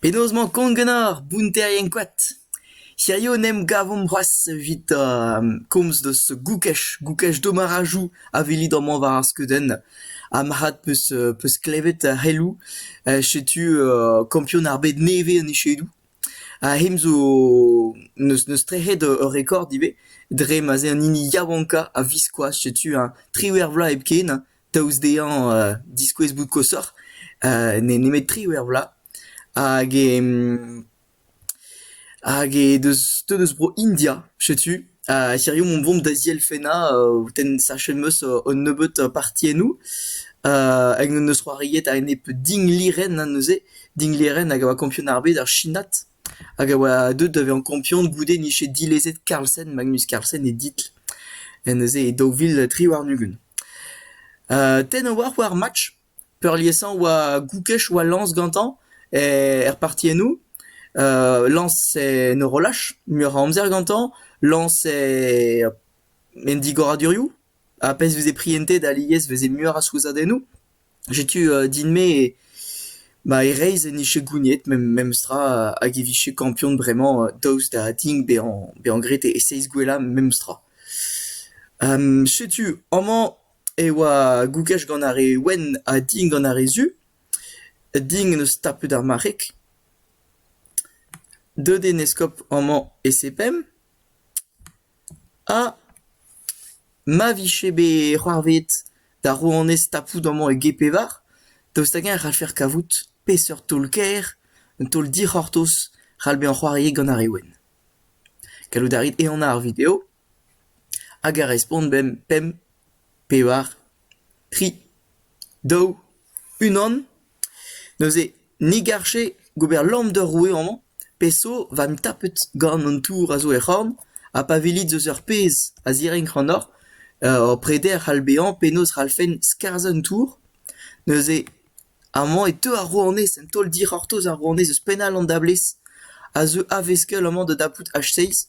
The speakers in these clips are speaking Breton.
Penaos 'mañ kont ganeoc'h, bounterien koad ? Hiziv en em gavomp c'hoazh evit komz deus goukaj, goukaj domarajoù a welit amañ war ar skeudenn. Ha marc'had 'peus peus klevet c'heloù. Setu kampion ar bed nevez en echedoù. Ha hemañ zo n'eus n'eus trec'het ur rekord ivez dre ma'z eo an hini yaouankañ a-viskoazh setu triwec'h vloaz hepken. daoust dezhañ diskouez bout koshoc'h nemet-tre er vloaz hag e hag e deus te deus bro India setu hiziv on vont da zielfennañ tenn sachet 'm eus un nebeut partiennoù hag n'en deus c'hoariet a-enep dinglirenn neuze dinglirenn hag a oa kampionad ar bed ar chinat hag a oa deuet da vezañ kampion goude nije dilezet Carlsen, Magnus Carlsen e ditl neuze e daou vil tri warn-ugent. tenn a oa war ar match, peurliesañ oa Goukech oa lañs gantañ er partiennoù, lañs en horolaj muioc'h a amzer gantañ, lañs en digoradurioù, ha pezh 'veze prientet alies 'veze muioc'h a souezhadennoù. Setu din-me ma e reizh en dije gouniet memestra hag e vije kampion bremañ daoust da din bezañ bezañ graet e seizh gwellañ memestra. Setu amañ e oa gougaj gant ar re wenn ha din gant ar re zu. Din en deus tapet ar marc'heg. Deut eo 'n eskob amañ e Sepemp. Ha ma vije bet c'hoarvezet da rouanez tapout amañ e g-pevar, daoust hag-eñ e c'hallfec'h kavout peseurt taol-kaer, un taol dic'hortoz, c'hall bezañ c'hoariet gant ar re wenn. Gallout a rit ehanañ ar video hag a respont bemp pemp, pevar, tri, daou, unan. Neuze, ni garje gober lamm d'ur roue amañ, pe zo va 'm tapet gant an tour a zo er c'horn, ha pa welit eus ur pezh a zirenk ac'hanoc'h, ur preder c'hall bezañ penaos c'hallfen skarzhañ an tour. Neuze, amañ e teu ar rouanez, un taol dic'hortoz ar rouanez eus penn all an dablez, a zeu a-veskell amañ da dapout H6.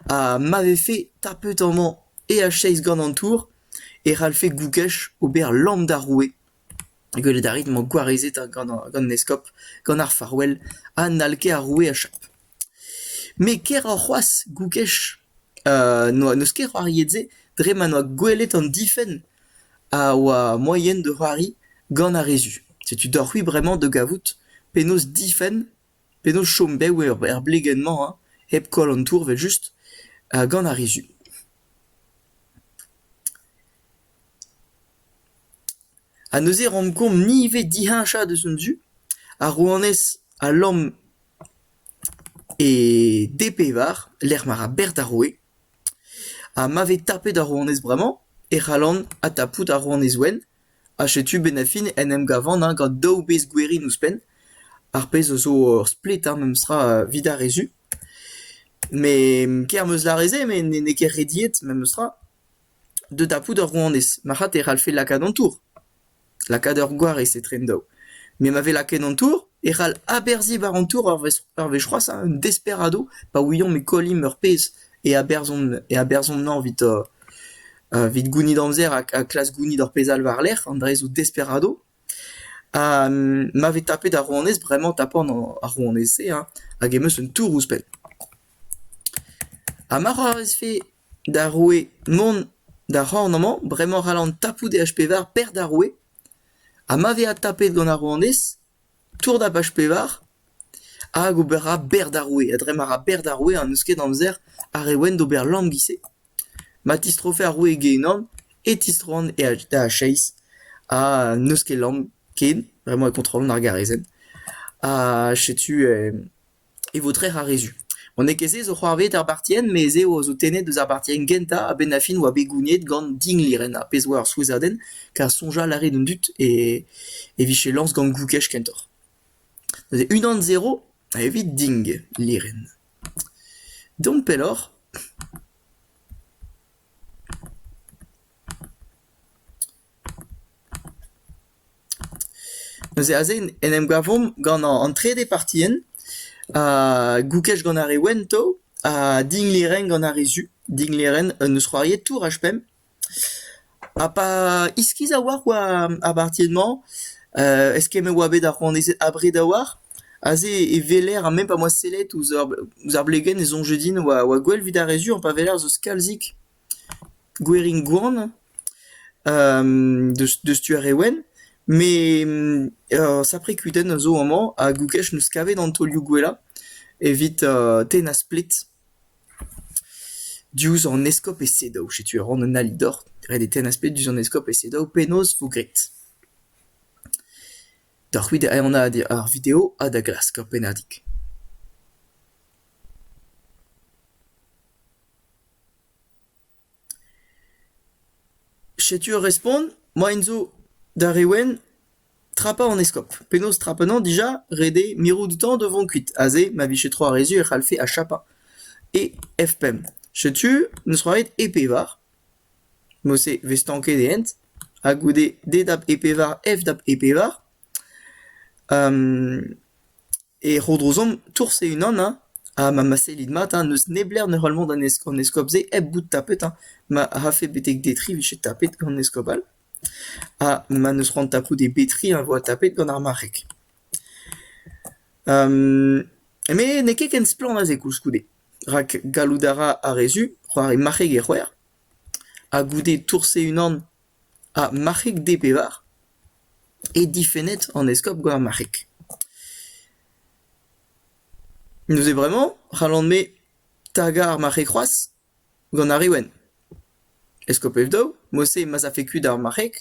Ha ma vefe tapet amañ eacheiz gant an tour e c'hallfe Gougech ober lamm d'ar roue. Gwelet a rit emañ gwarezet gant an eskob, gant ar farouell, ha n'hall ket ar roue achap. Met keroc'h c'hoazh, Gougech, n'eus ket c'hoariet-se dre ma n'oa gwelet an difenn a oa moaien da c'hoari gant ar re zu. Setu deoc'h-c'hwi bremañ da gavout penaos difenn P'edo chom bev er blegenn-mañ hañ, hep koll an tour evel-just, gant ar rizun. Ha neuze e raomp kont ivez diheñchañ deus an du ar rouanez a lamm e d-pevar lec'h ma ra berzh d'ar roue. Ha ma vez tapet ar rouanez bremañ e c'hallan adtapout ar rouanez wenn. Ha setu benn-ar-fin en em gavan eñ gant daou bezh gwerin ouzhpenn, ar pezh a zo ur splet ha memestra evit ar re zu. Met ker 'm eus lâret-se met n'eo ket rediet memestra da dapout ur rouanez. Marc'had e c'hallfe lakaat an tour, lakaat ur gwarez etre an daou. Met ma vez lakaet an tour e c'hall aberzhiñ war an tour ur wech ur wech c'hoazh ha un desperadoù pa ouiomp e kollimp ur pezh e aberzhomp e aberzhomp-eñ evit Evit gounit amzer ha klask gounit ur pezh all war-lerc'h, an dra-se zo Desperado. Ha ma vez tapet ar rouanez, bremañ 'tapan ar rouanez-se hein, hag em eus un tour ouzhpenn. Ha ma'c'h avezfe d'ar roue mont d'ar c'horn amañ, bremañ 'c'hallan tapout e H-pevar perc'h d'ar roue. Ha ma vez adtapet gant ar rouanez, tour da H-pevar hag ober ra bec'h d'ar roue. Ha dre ma ra bec'h d'ar roue, ha n'eus ket amzer ar re wenn d'ober lam 'giz-se. Ma tistrofe ar roue genan e tistroan da acheiz ha n'eus ket lamm ken, bremañ e kontrollan ar garezenn, ha setu e vo trec'h ar re zu. Ma n'eo ket se zo c'hoarvezet ar bartienn, me ez eo a zo tennet eus ar bartienn gentañ a-benn ar fin e oa bet gouniet gant Dinglýren, ar pezh a oa ur souezhadenn kar soñjal a rae d'an dud e e vije lañs gant Goukej kentoc'h. Neuze unan zero evit Dinglýren. Dont pelloc'h. Neuze aze en em gavomp gant an trede partienn, ha goukej gant ar re wento, ha dignlêrenn gant ar re zu. Dignlêrenn un eus c'hoariet Tour H5. Ha pa iskis a-walc'h war ar bartied-mañ, eskemmet e oa bet ar c'hoanezed abred a-walc'h. Aze e weler, ha même pa 'moa sellet ouzh ar ouzh ar blegenn, e soñje din oa oa gwell 'vit ar re sur, pa weler ez eus kalzik gwerin gwan deus deus tu ar re wenn. Met ur sapre kudenn a zo amañ, hag Oukech 'neus kavet an taolioù gwellañ evit tennañ splet. Diouzh an eskob e sedaou. Setu a ran un ali deoc'h ret eo tennañ splet diouzh an eskob e sedaou. Penaos vo graet? Deoc'h c'hwi da anaat ar video ha da glask ur pennadig. Setu ur respont, moaien zo d'ar re wenn trapañ an eskop. Penaos trapañ anezhañ dija? Ret eo mirout outañ da vont kuit. Aze ma vije tro ar re-se e c'hallfe achapañ e F5. Setu n'eus c'hoant ebet e pevar, mod-se 'vez stanket e hent, ha goude D dap E pevar, F dap E pevar. E Rodrozom, tours e-unan hein, ha ma sellit mat hein, n'eus neblec'h ne c'hell mont an eskob-se hep bout tapet hein. Ma rafe betek Detry 'vije tapet gant an eskob all ha ma n'eus c'hoant tapout e Betry e vo tapet gant ar marc'heg. Met n'eo ket ken splann aze koulskoude, rak gallout a ra ar re zu c'hoari marc'heg e c'hwec'h, ha goude tours e-unan Ha marc'heg D-pevar eo difennet an eskob gant ar marc'heg. Neuze bremañ c'hallan-me tagañ ar marc'heg c'hoazh gant ar re wenn. Eskob Ev-daou, mod-se ma'z afe kuit ar marc'heg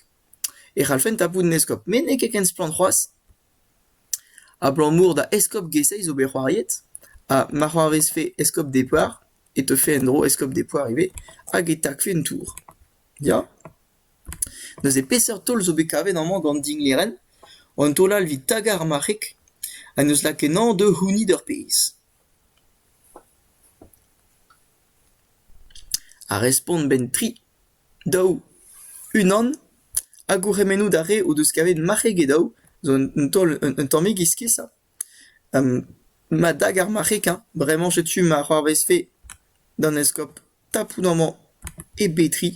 e c'hallfen tapout un eskob met n'eo ket ken splann c'hoazh. Abalamour da eskob G-Seiz zo bet c'hoariet ha ma c'hoarvezfe eskob D-pevar e teufe en-dro eskob Depouar ivez, hag e takfe un tour. Ya ? Neuze peseurt taol zo bet kavet amañ gant dinglerenn ? Un taol all evit tagañ ar marc'heg ha n'eus lak ennañ da c'hounit ur pezh. Ar respont 'benn tri, daou, unan ha gourc'hemennoù d'ar re o deus kavet marc'heg e daou zo un taol un tammig iskessañ. Ma dag ar marc'heg hañ, bremañ setu ma c'hoarvezfe d'an eskob tapout amañ e betri.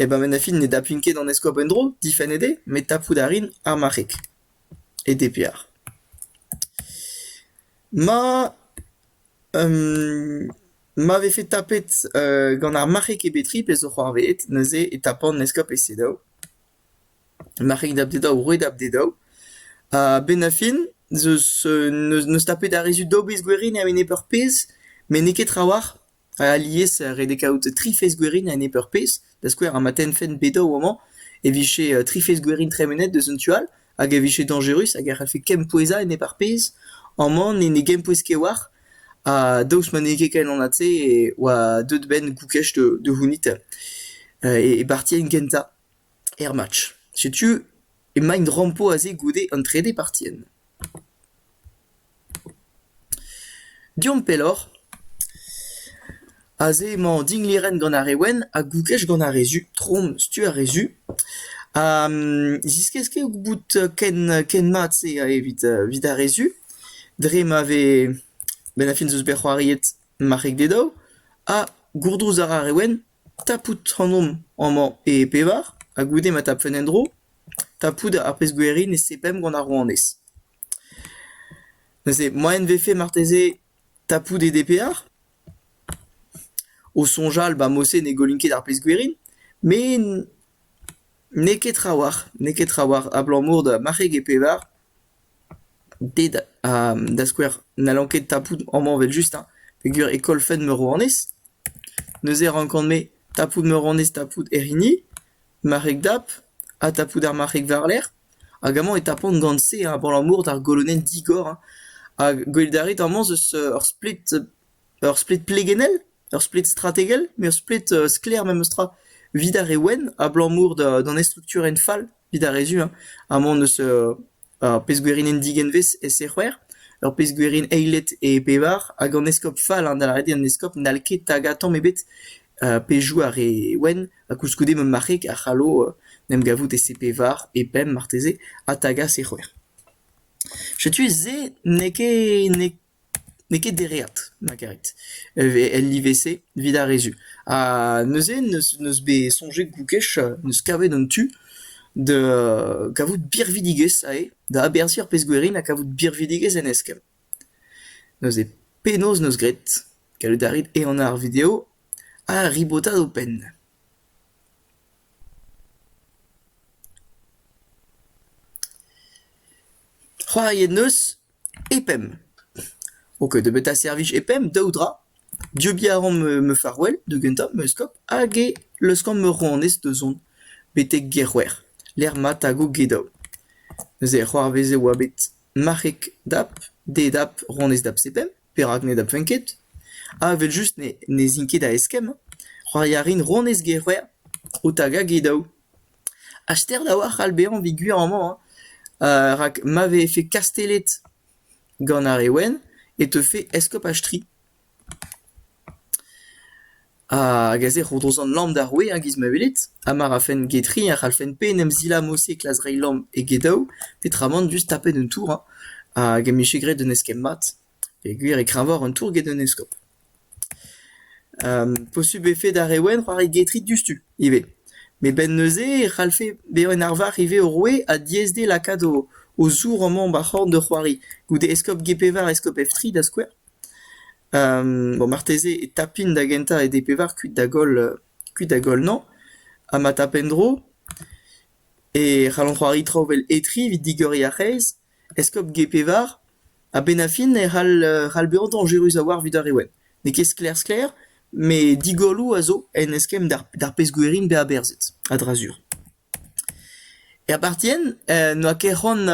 Eh ben en fin ne daplin ket an eskob en-dro, difennet eo, met tapout a rin ar marc'heg e DPR. Ma ma vefe tapet gant ar marc'heg e betri, pezh zo c'hoarvezet neuze e tapan eskob e CEDEAO. Marc'hig da bep-dek daou, roet da bep-dek daou. Ha a-benn ar fin n'eus neus tapet ar re zud d'ober gwerin a-enep ur pezh met n'eo ket trawalc'h. Alies ret eo kaout tri fezh gwerin a-enep ur pezh. Da skouer ma tennfen bep daou amañ e vije tri fezh gwerin tremenet deus un tu all hag e vije dañjerus hag e c'hallfe kempouezañ enep ar pezh. Amañ ne gempouez ket war. Ha daoust ma n'eo ket ken anat-se e oa deuet 'benn goukej da c'hounit e bartienn gentañ. Er match, setu emaint rampo aze goude an trede partienn. Deomp pelloc'h. Aze emañ dinglêrenn gant ar re wenn ha gouglech gant ar re zu, trom stu ar re zu. Ha ziskouez ket bout ken ken mat-se evit evit ar re zu dre ma vez benn ar fin 'z eus bet c'hoariet marc'heg d'e daou ha gourdrouz a ra ar re wenn Tapout ac'hanomp amañ e pevar, ha goude ma tapfen en-dro, tapout ar pezh-gwiriñ ne seblant gant ar rouanez. Neuze moaien 'vefe marteze tapout e DPR? O soñjal ba mod-se ne gollin ket ar pezh-gwiriñ, met n'eo ket trawalc'h, n'eo ket trawalc'h abalamour da marc'heg e pevar. Ted, da skouer, n'hallan ket tapout amañ evel-just hein, peogwir e kollfent Meuronez. Neuze e rankan-me tapout Meuronez, tapout hec'h hini, marc'heg dap, ha tapout ar marc'heg war-lerc'h, hag amañ e tapan gant-se hein abalamour d'ar golonenn digor hein, hag gwelet a rit amañ 'z eus ur splet, ur splet plegennel. ur splet strategel, met ur splet sklaer memestra, evit ar re wenn, abalamour d'an estrukturenn fall, evit ar re zu hein, amañ n'eus ar pezh-gwerienn digenvez e-se c'hwec'h, ur pezh-gwerienn eilet e pevar, hag an eskob fall hein, da lâret eo an eskob n'hall ket tagañ tamm ebet pe joue ar re wenn, ha koulskoude ma marc'heg a c'hallo en em gavout e-se pevar, e pemp marteze, ha tagañ se c'hwec'h. Setu se n'eo ket n'eo N'eo ket dereat, Margaret, el live-se, evit ar re-zu. Ha neuze n'eus bet soñjet gougech, n'eus kavet an tu da kavout birvidigezh ivez, da aberzhiñ ar pezh-gwerin ha kavout birvidigezh en eskell. Neuze penaos 'neus graet? Gallout a rit ehanañ ar video ha ribotat ho penn. C'hoariet 'neus E-pemp. Ok, debeut a servij e-pemp, daou dra. Debriñ a ran ma farouell da gentañ, ma eskop, hag e leuskan ma rouanez da zont betek gêr C'hwec'h, lec'h ma tago Gedaou. Neuze e c'hoarvez e oa bet marc'heg dap, didap rouanez dap Sepemp, perak ne dapfen ket? Ha evel-just ne zin ket da eskemm. C'hoari a rin rouanez gêr C'hwec'h o tagañ Gedaou. Astenn a-walc'h a c'hall bezañ evit gwir amañ rak rak ma vefe kastellet gant ar re wenn e teufe eskob Astri. Hag aze e ro drouzan lamm d'ar roue a-giz ma welit, ha ma rafen get re a c'hallfen pe en em zilamour se klas reiñ lamm egedaou, peotramant just tapet un tour, hag em bije graet un eskemm mat. Peogwir e kravoc'h an tour get un eskob. Posubl e vfe d'ar re wenn c'hoari getrit diouzhtu ivez. Met 'benn neuze e c'hallfe bezañ un arvar ivez o roue ha diaes dezhe lakaat o o zour amañ ba'r c'horn da c'hoari. Goude eskob Gpevar, eskob Efri da skouer. Bon marteze e tapint da gentañ e Dpevar kuit da goll kuit da goll-nañ ha ma tap en-dro e c'hallont c'hoari traoù 'vel Etri evit digoriñ ar c'hreiz. Eskob Gez-Pevar a-benn ar fin e c'hall c'hall bezañ dañjerus a-walc'h evit ar re wenn. N'eo ket sklaer-sklaer met digolloù a zo en eskemm d'ar pezh gwerin bezañ aberzhet a-dra-sur. Er partienn n'oa ket c'hoant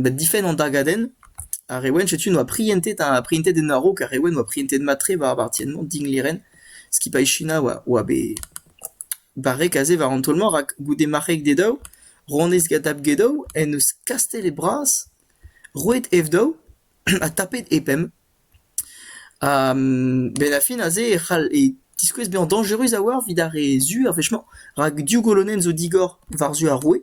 da difenn an dagadenn. Ar re wenn setu n'oa prientet ha prientet en a-raok ar re wenn oa prientet mat-tre war ar partienn-mañ, Dinglêren, skipailh China oa bet Barrek aze war an taol-mañ rak goude marc'heg d'e daou, ronez Gadab Gedow en deus kastell e bras, roet Evdow ha tapet e pemp. Ha benn ar fin aze e c'hall e tiskouez bezañ dañjerus a-walc'h evit ar re zu ar wech-mañ rak div golonenn zo digor war-zu ar roue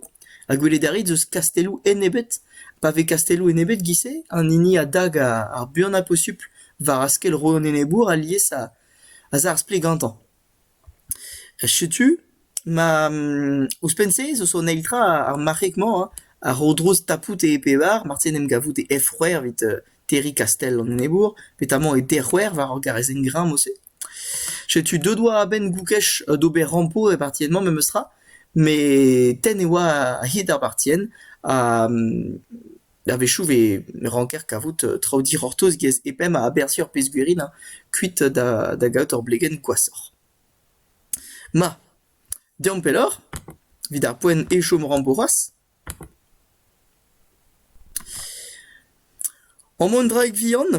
ha gwelet a rit eus kastelloù enebet, pa vez kastelloù enebet giz-se, an hini a dag ar buan posupl war askell roue an enebour alies a za ar splet gantañ. Setu ma ouzhpenn-se zo son eil tra ar marc'heg-mañ hein, a ro drouz tapout e pevar, marteze en em gavout e F-c'hwec'h evit terriñ kastell an enebour, petamant e D-c'hwec'h war ur garrezenn greñv-se. Setu deut oa a-benn Goukech d'ober rampo er partienn-mañ memestra, met tenn e oa a-hed ar partienn ha A-wechoù vez ranker kavout traoù dic'hortoz get pemp a aberzhier pezhgwirin kuit da gaout ur blegenn gwashoc'h. Ma, deomp pelloc'h evit ar poent e-chom rampo c'hoazh. Amañ un draig vihan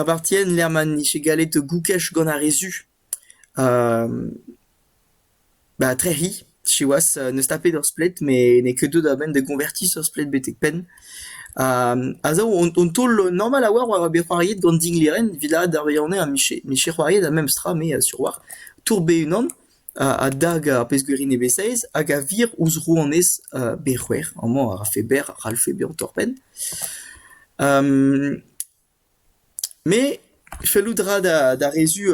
a vartien lec'h ma 'nije gallet goukej gant ar re zu. Ba trec'hi siwazh n'eus tapet ur splet met n'eo ket deuet a-benn da goñvertiñ ur splet betek-penn. a zo un taol normal a-walc'h war bet c'hoariet gant Dinglêren evit ar wirionez ha miche c'hoariet ar memes tra me sur war tour-bez unan a dag ar pezh-gwir nevez-saezh hag a vir ouzh rouanez bet c'hwec'h amañ a rafe berr a c'hallfe bezañ torr-penn. Me, fellout a ra d'ar re-zu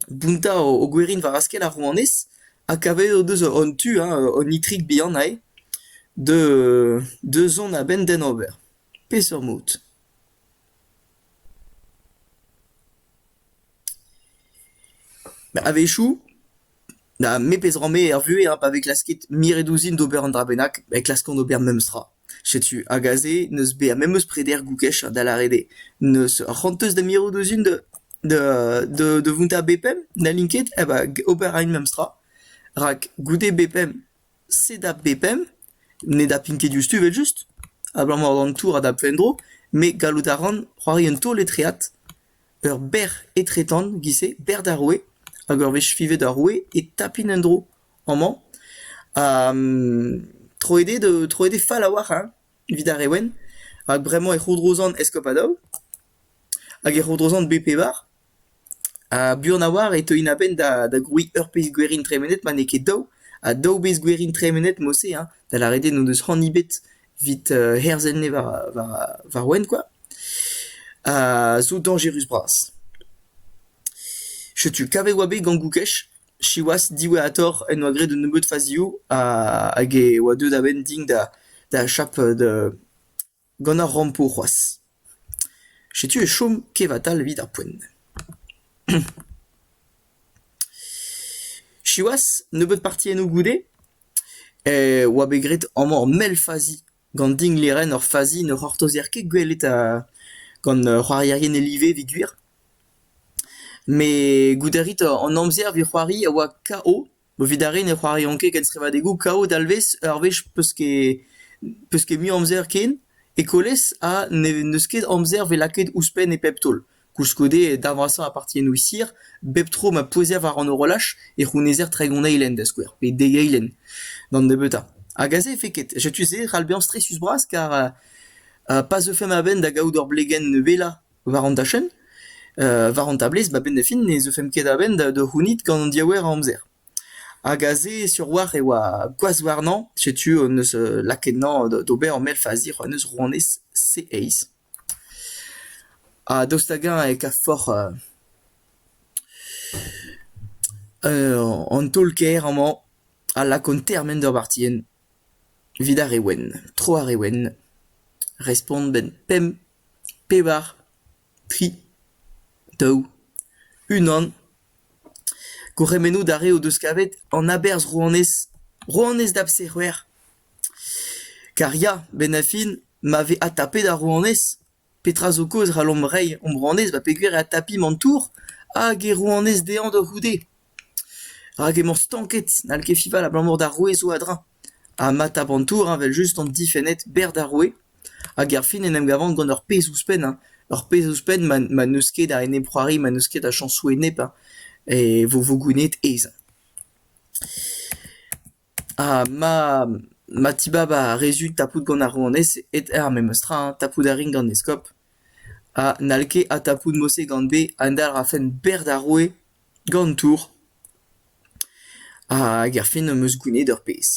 bountañ o gwerin war askell ar rouanez ha kavet o deus an tu ha an itrik bihan aze da zont a-benn d'hen ober. Peseurt mod ? A-wechoù Na memes ra-me er vuhez ha pa vez klasket miret ouzhin d'ober un dra bennak, e klaskan ober memes tra. Setu, hag aze n'eus bezañ memes preder goukech da lâret eo. N'eus ur c'honteuz da mirout ouzhin da da da da vountañ bepemp, n'hallin ket, eh ben ober a rin memes tra. Rak goude bepemp, sed a bepemp, ne dapin ket diouzhtu evel-just, abalamour d'an tour a dapfe en-dro, met gallout a ran c'hoari un taol etreat. Ur bec'h etretant giz-se, bec'h d'ar roue, hag ur wech fivet ar roue e tapin en-dro amañ, ha troet eo da troet eo fall a-walc'h hein, evit ar re wenn, rak bremañ e c'hourdrozan Escopadou, hag e c'hourdrozan Bpevar, ha buan a-walc'h e teuin a-benn da grouiñ ur pezh gwerin tremenet ma n'eo ket daou, ha daou bezh gwerin tremenet mod-se hein, da lâret eo n'o deus c'hoant ebet evit herzel-nez war ar rouen kwa. zo dañjerus-bras. Setu kavet oa bet gant Goukech, siwazh diwezhatoc'h en doa graet un nebeud fazioù hag e oa deuet a-benn din da da achap gant ar rampo c'hoazh. Setu e chom kevatal evit ar poent. Siwazh, nebeud parti enno goude, e oa bet graet amañ ur mell fazi Gant dinglerenn ur fazi ne c'hortozer ket gwelet gant ur c'hoarierien e-livedig gwir. Met goude a rit an amzer evit c'hoari a oa KO. Evit ar re ne c'hoariont ket kenstrivadegoù, KO dalvez ur wech 'peus ket peus ket mui amzer ken. Ekolez ha n'eus ket amzer 'vez lakaet ouzhpenn e pep taol. Koulskoude, e darn vrasañ a partiennoù Sir, bep tro ma pouezer war an horolaj, e c'hounezer tregont eilenn, da skouer, pe dek eilenn, d'an nebeutañ. Hag aze efe ket. Setu-se ral bezañ stresius-bras kar euh pa zeufe ma-benn da gaout ur blegenn wellañ war an dachenn, euh war an tablez, a-benn da fin ne zeufemp ket a-benn da da c'hounit gant an diaouer a amzer. Hag aze, sur-walc'h, e oa gwazh warnañ. Setu, n'eus lakaet 'nañ d'ober ur mell fazier, n'eus rouanez C-eizh. Ha daoust hag-eñ e kavfoc'h an taol-kaer amañ a lakaont termen d'ur bartienn evit ar re wenn, tro ar re wenn, respont 'benn pemp, pevar, tri, daou, unan. Gourc'hemennoù d'ar re o deus kavet an aberzh rouanez, rouanez da b'se c'hwec'h. Kar ya, benn-ha-fin, ma vez adtapet ar rouanez, petra zo kaoz e c'hallomp reiñ hom rouanez ba peogwir e adtapi an tour hag e rouanez dezhañ da c'houde ? Rak emañ stanket, n'hall ket fival abalamour d'ar roue zo a-dreñv. Ha ma tap an tour heñ evel-just an difenned berr d'ar roue, hag erfin en em gavan gant ur pezh ouzhpenn hein, ur pezh ouzhpenn ma ma n'eus ket a enep-c'hoari, ma n'eus ket a chañsoù enep hein, e vo vo gouennet aes. Ha ma ma tibab ar re zu tapout gant ar rouanez e-ter memes tra hein, tapout a rin gant eskob ha n'hall ket adtapout mod-se gant bez a dalc'hfen bec'h d'ar roue gant tour hag erfin am eus gounid ur pezh.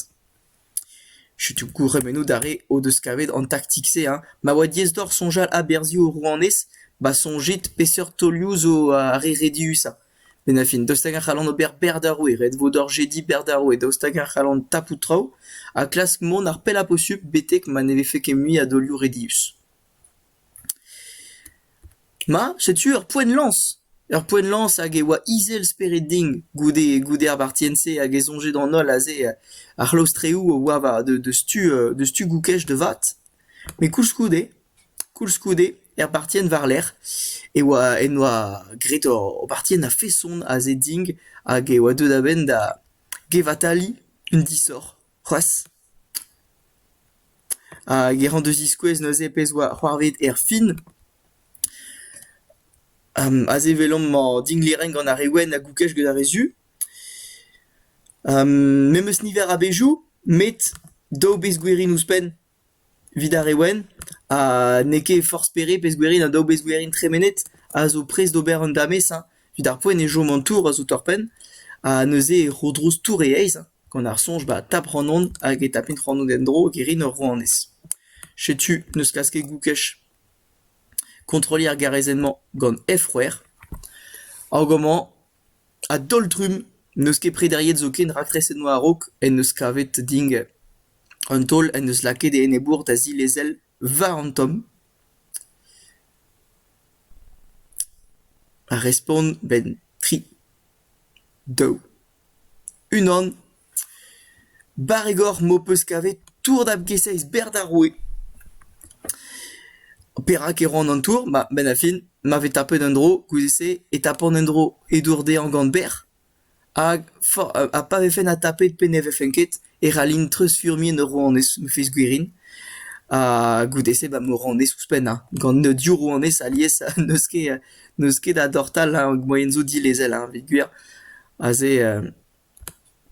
Setu gourc'hemennoù d'ar re o deus kavet an taktik-se hein. Ma oa diaes deoc'h soñjal aberzhioù rouanez, ba soñjit peseurt taolioù zo ar re rediusañ. Met na fin daoust hag a c'hallan ober bec'h d'ar roue ret vo d'hor jediñ bec'h d'ar roue daoust hag a c'hallan tapout traoù ha klask mont ar pellañ posupl betek ma ne vefe ket mui a daolioù redius. Ma, setu ur poent-lañs. Ur poent-lañs hag e oa izel spered din goude goude ar bartienn-se hag e soñje d'an holl aze ar c'hlaostreoù a oa war deus tu deus tu Goukej da vat. Met koulskoude, koulskoude, er bartienn war-lerc'h e oa en doa graet o bartienn a-feson aze din hag e oa deuet a-benn da gevataliñ un disoc'h c'hoazh. Hag e ran da ziskouez neuze pezh oa c'hoarvet er fin. aze 'welomp mañ dinglêrenn gant ar re wenn a goukej gant ar re zu. Memes niver a bezhioù met daou bezgwerin ouzhpenn evit ar re wenn ha n'eo ket forzh pere pezhgwerin ha daou bezgwerin tremenet a zo prest d'ober un damez hein. Evit ar poent e chom an tour a zo torr-penn ha neuze e c'hourdrouz tour e eizh hein. Gant ar soñj ba tap c'hanon hag e tapin c'hanon en-dro hag e rin ur rouanez. Setu n'eus kas ket goukej kontrolliñ ar garezenn-mañ gant F-c'hwec'h. Hag amañ A-daol-trumm, n'eus ket prederiet zoken raktreset noa a-raok en deus kavet Dingle. Un taol en deus lakaet e enebour da zilezel war an tomm. Ar respont 'benn tri, daou, unan. Barregoc'h m'ho peus kavet tour-dab-keiz-seiz berr d'ar roue. Perak e ran an tour ? Ma, 'benn ar fin, ma vez tapet un dro goude-se e tapan un dro edour dezhañ gant berr, hag fa- ha pa vefen adtapet pe ne vefen ket e c'hallin treuzfurmiñ en ur rouanez, ma fez gwirion. Ha goude-se ba, ma rouanez ouzhpennañ, gant div rouanez alies n'eus ket n'eus ket a dortal hag moaien zo dilezel, hein, evit gwir. Aze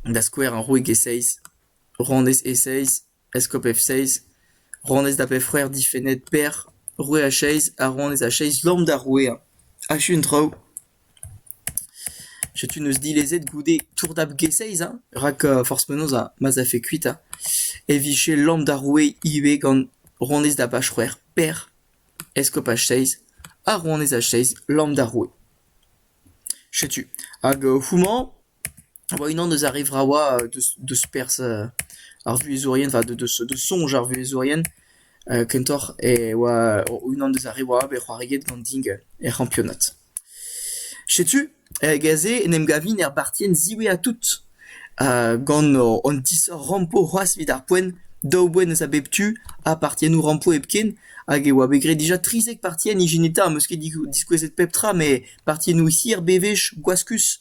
da skouer ar roig e-seizh, rouanez e-seizh, eskob F-seizh, rouanez da bep-c'hwec'h difennet Per, roue a-seizh ha rouanez a-seizh lamm d'ar roueañ. Achu an traoù. Setu neus dilezet goude tour-dab G-seizh hein, rak forzh penaos ma'z afe kuit hein, e vije lamm d'ar roue ivez gant rouanez da bach-c'hwec'h Per, eskob H-seizh ha rouanez H-seizh lamm d'ar roue. Setu hag houmañ a oa unan eus ar re vravañ deus deus perzh ar vuhezourien, enfin deus deus soñj ar vuhezourien kentoc'h e oa unan deus ar re warañ bet c'hoariet gant Ding er c'hampionad. Setu hag aze en em gavin er bartienn ziwezhañ tout. Gant an disrampo c'hoazh evit ar poent, daou boent eus a bep tu ha partiennoù rampo hepken hag e oa bet graet dija trizek partien ijineta am eus ket diskouezet pep tra met partiennoù hir bewech gwaskus.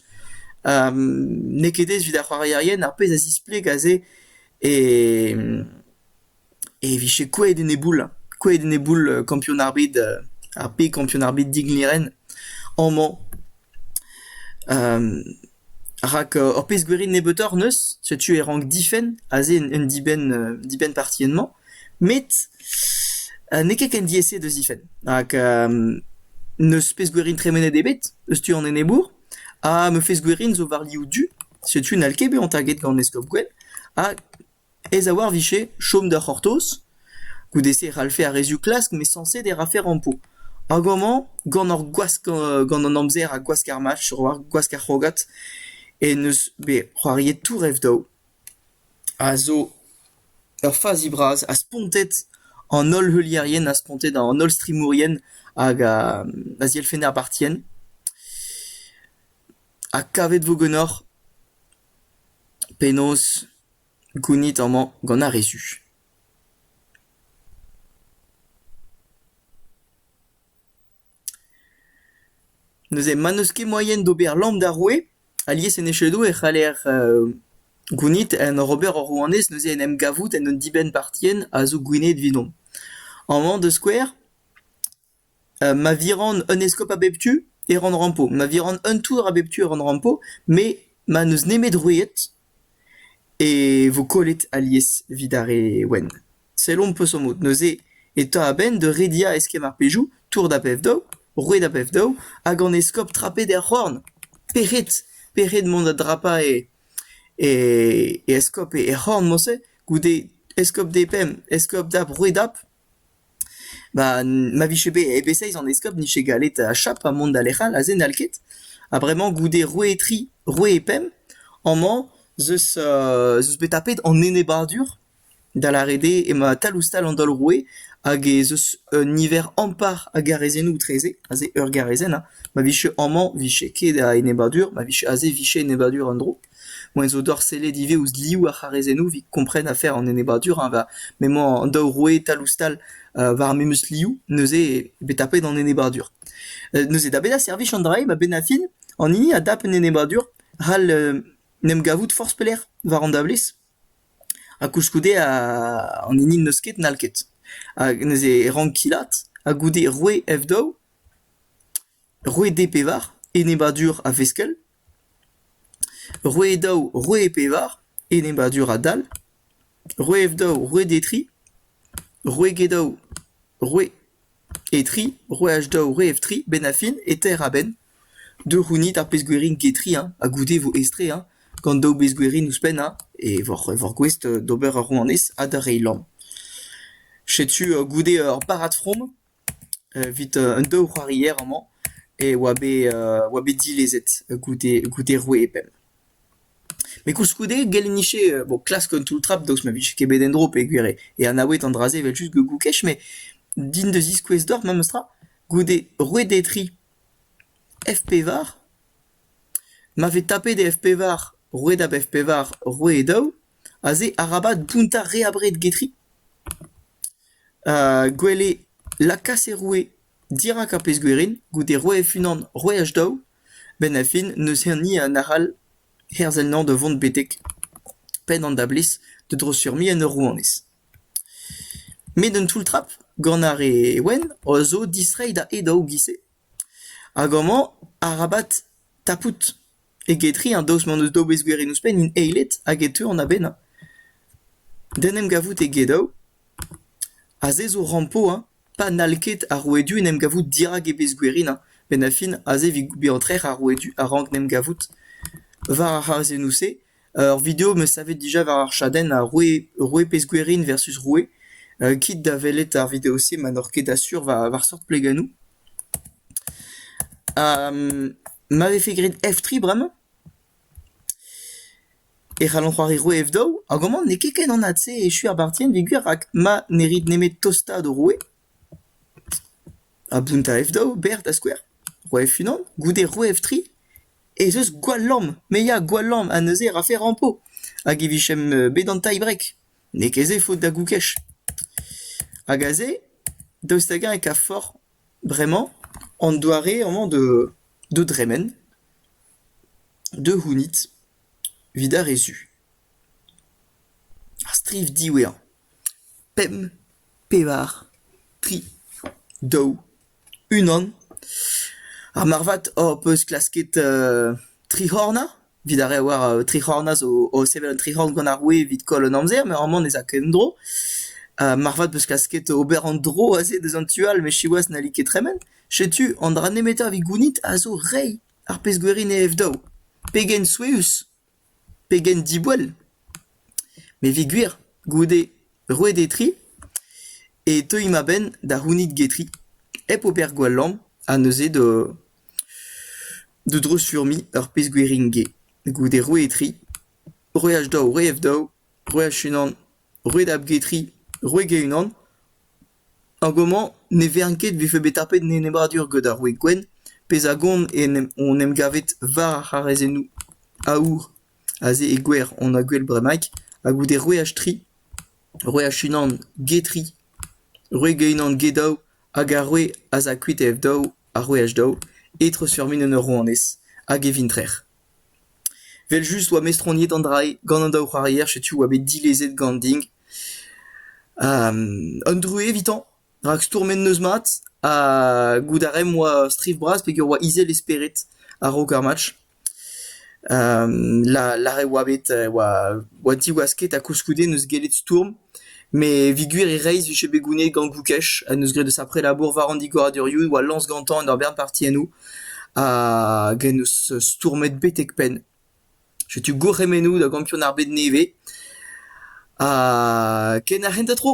N'eo ket aes evit ar c'hoarierien ar pezh a zispleg aze e e vije kouezhet eneboul, kouezhet eneboul kampion ar bed, ar pe kampion ar bed Digneren amañ. rak ur pezh gwirion nebeutoc'h 'neus, setu e rank difenn aze un dibenn dibenn partienn-mañ, met n'eo ket ken diaes da zifenn, rak n'eus pezh-gwirion tremenet ebet eus tu an enebour, ha ma fezh-gwirion zo war liv du, setu n'hall ket bezañ taget gant eskob Gwenn, ha Aes a-walc'h 'vije chom da c'hortoz, goude-se e c'hallfe ar rezioù klask m'eo sañset e rafe rampo. Hag amañ, gant ar gwask gant an amzer ha gwask ar mach, gwask ar c'hrogad, en eus bet c'hoariet Tourev daou, a zo ur fazi bras ha spontet an holl heulierien ha spontet an holl strimourien hag a zielfenn ar bartienn. Ha kavet 'vo ganeoc'h penaos Gounit amañ gant ar re zu. Neuze ma n'eus ket moaien d'ober lamm d'ar roue, alies en echedoù e c'haller gounit. En ur ober ur rouanez neuze en em gavout en un dibenn-partienn a zo Gwened evidomp. Amañ da skouer, ma viran un eskob a bep tu e ran rampo, ma viran un tour a bep tu e ran rampo, me ma n'eus nemet roueed e vo kollet alies evit ar re wenn. Sellomp peseurt-mod. Neuze e ta a-benn da rediañ eskemm ar pezoù, tour da bev-daou, roueed a bev-daou, hag an eskob trapet er c'horn. Pec'hed, pec'hed mont da drapañ e e eskob er c'horn-mañ-se goude eskob D pemp, eskob dap, roueed dap. Ba ma vije bet e-bezeiz an eskob 'nije gallet achap ha mont da lec'h all aze n'hall ket. Ha bremañ goude roue tri, roue pemp amañ 'zeus zeus bet tapet an enebadur da lâret eo emañ tal-ouzh-tal an daol roue hag ez eus un niver ampart a garazennoù etreze, aze ur garazenn ha ma vije amañ 'vije ket a enebadur, ma vije aze 'vije enebadur un dro. Moa zo dorsellet ivez ouzh liv ar c'harrezennoù evit kompren afer an enebadur eñ, va m'emañ an daou rouetal-ouzh-tal war memes liv neuze eo bet tapet an enebadur. Neuze da bezañ servij an dra-se a-benn ar fin an hini a dap un enebadur c'hall en em gavout forzh pelec'h war an dablez ha koulskoude an hini n'eus ket n'hall ket. Hag neuze e rank kilaat ha goude roue F daou. roueed e-pevar, enebaddur a-veskell, roueed daou, roueed e-pevar, enebaddur a-dal, roueed daou, roueed e-tri, roueed daou, roueed e-tri, roueed daou, roueed tri, benn ar fin, e teir a-benn. Deu c'hounit ar pezhgwerienn get-tri hein, ha goude vo aes-tre hein, gant daou bezhgwerienn ouzhpenn hein, e voc'h e voc'h gouest d'ober ur rouanez ha da reiñ lamm. Setu goude ur barrad from. Evit an daou c'hoarier amañ e oa bet oa bet dilezet goude goude rouedel. Met koulskoude gell eo-nije bon klask un toull-trap daoust ma vije ket bet en-dro peogwir e anaoued an dra-se evel-just goukoù-kech met din da ziskouez deoc'h memestra goude rouedel tri F-pevar ma vez tapet F-pevar rouedab F-pevar roueed daou aze arabat bountañ re abred get tri. Gwell eo lakaat e roue dirak ar pezh-gwerin goude roe'h unan roe'h daou. A-benn ar fin n'eus hini arall herzel-nañ da vont betek penn an dablez da drosfurmiñ en ur rouanez. Met un toull-trap gant ar re wenn a zo distreiñ da e daou giz-se. Hag amañ arabat tapout. Eget-tre an daoust m'hon eus daou bezgwerienn ouzhpennin eilet hag e teu an abennañ. D'en em gavout egedaou. Ha se zo rampo hein, pa n'hall ket ar rouedu en em gavout dirak e bezgwerinañ, benn ar fin aze evit bezañ trec'h ar rouedu a-raok en em gavout. War ar c'hazezennoù-se, ur video 'm eus savet dija war ar chadenn a roue roue pezgwerin versus roue. kit da welet ar video-se ma n'oc'h ket asur war war seurt plegennoù. ma vefe graet F3 bremañ e c'hallont c'hoari roue F2 hag amañ n'eo ket ken anat-se echu ar bartienn d'e gwir rak ma ne rit nemet tostaat ho roue ha bountañ F2 berr da skouer roue F1 goude roue F3 ez eus gwall lamm me ya gwall lamm ha neuze e rafe rampo hag e vijemp bet an tie-break. n'eo ket se faot da Goukech. Hag aze, daoust hag-eñ e kavfoc'h bremañ an doare amañ de de dremen, de c'hounit evit ar re zu. Ar striv diwezhañ. Pemp, pevar, tri, daou. unan. Ha marvat hor peus klasket tri c'hornañ, evit ar re a oar tri c'hornañ zo o sevel un tri c'horn gant ar roue evit koll an amzer, met amañ ne za ket en-dro. marvat 'peus klasket ober an dro aze deus an tu all, met siwazh n'halli ket tremen. Setu an dra nemetañ evit gounit a zo reiñ ar pezh-gwir en e ev daou. Pegen souezhus! Pegen diboell ! Me 'vez gwir, goude roet e tri, e teuimp a-benn da c'hounit getri, hep ober gwall lamm, ha neuze da da dreuzfurmiñ ur pezh gwirion get. Goude roet e tri, roer daou, roer daou, roer unan. roit a bgetri roit ge-unan hag homañ ne vern ket 'vefe bet tapet an enebladur gant ar roue gwenn pezh a gont hon em gavet war ar c'harrezennoù aour aze e gwer hon a gwel bremaik ha goude roeaj tri roeaj unan ge tri roit ge-unan ge daou hag ar roue az a kuit e-f daou ha roeaj daou etreuz sur-min en ur rouanez hag e vintrec'h Evel-just 'oa mestroniet an dra-se gant an daou c'hoarier, setu 'oa bet dilezet gant din un druez evitañ rak stourmet 'neus mat ha goût a raemp 'oa striv bras peger 'oa izel e spered a-raok ar match. La lâret 'oa bet 'oa diwasket ha koulskoude 'neus gellet stourm. Met evit gwir e reizh vije bet gounid gant Goukech ha 'neus graet deus ar prelabour war an digoradurioù e oa lañs gantañ en ur bern partiennoù hag en deus stourmet betek-penn. Setu gourc'hemennoù da gampion ar bed nevez ha ken ar c'hentañ tro!